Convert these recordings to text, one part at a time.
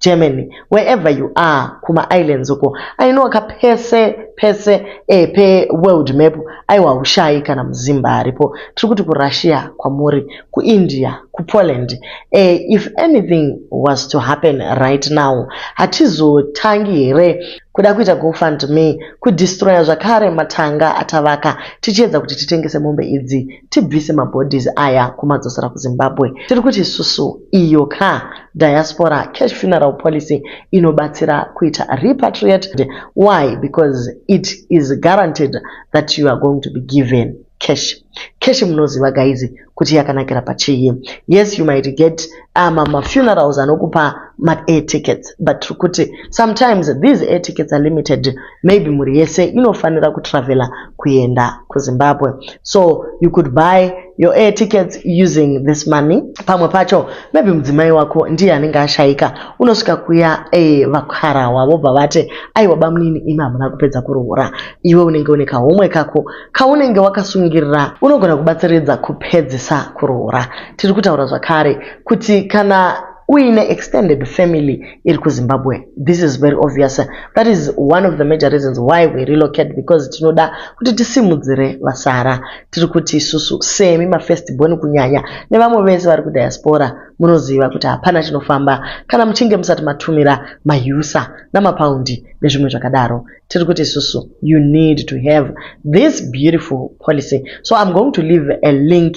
Germany wherever you are kuma islands uko ainoka pese pese eh, pe world map aiwa haushai kana muzimba aripo tiri kuti kurussia kwamuri kuindia kupoland eh, if anything was to happen right now hatizotangi here kuda kuita gofund me kudestroya zvakare matanga atavaka tichiedza kuti titengese mombe idzi tibvise mabodies aya kumadzosera kuzimbabwe tiri kuti isusu iyo ka diaspora cash funeral policy inobatsira kuita repatriated why because it is guaranteed that you are going to be given cash cash munoziva gaizi kuti yakanakira pachii yes you might get ama ah, mafunerals anokupa maair tickets but tiri kuti sometimes these air tickets are limited maybe mhuri yese inofanira kutravela kuenda kuzimbabwe so you could buy your air tickets using this money pamwe pacho maybe mudzimai wako ndiye anenge ashaika unosvika kuya eh, vakarawa vobva vati aiwa bamunini imi hamuna kupedza kuroora iwe unenge une kahomwe kako kaunenge wakasungirira unogona kubatsiridza kupedzisa kuroora tiri kutaura zvakare kuti kana uine extended family iri kuzimbabwe this is very obvious that is one of the major reasons why we relocate because tinoda kuti tisimudzire vasara tiri kuti isusu semi mafirst born kunyanya nevamwe vese vari kudiaspora munoziva kuti hapana chinofamba kana muchinge musati matumira mayusa namapaundi nezvimwe zvakadaro tiri kuti isusu you need to have this beautiful policy so i'm going to leave a link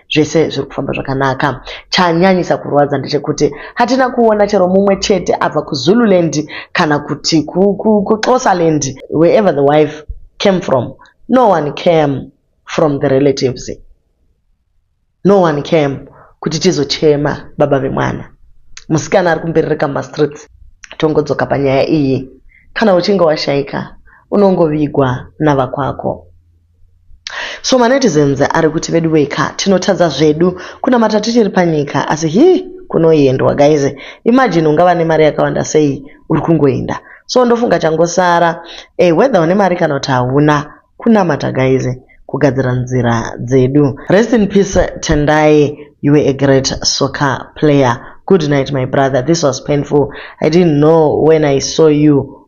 zvese zviri kufamba zvakanaka chanyanyisa kurwadza ndechekuti hatina kuona chero mumwe chete abva kuzululand kana kuti kuxosaland wherever the wife came from no one came from the relatives no one came kuti tizochema baba vemwana musikana ari kumberereka mumastreets tongodzoka panyaya iyi kana uchinge washaika unongovigwa navakwako So manetizens ari kuti veduweka tinotadza zvedu kunamata tichiri panyika asi hii kunoendwa guys imagine ungava nemari yakawanda sei uri kungoenda so ndofunga changosara eh, whether une mari kana kuti hauna kunamata guys kugadzira nzira dzedu rest in peace tendai you were a great soccer player good night my brother this was painful i didn't know when i saw you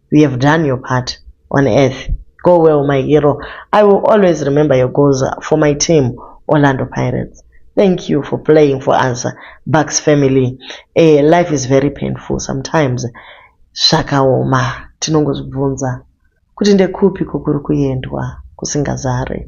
you have done your part on earth go well my hero i will always remember your goals for my team orlando pirates thank you for playing for us bucks family eh, life is very painful sometimes zvakaoma tinongozvibvunza kuti ndekupi kukuri kuendwa kusingazare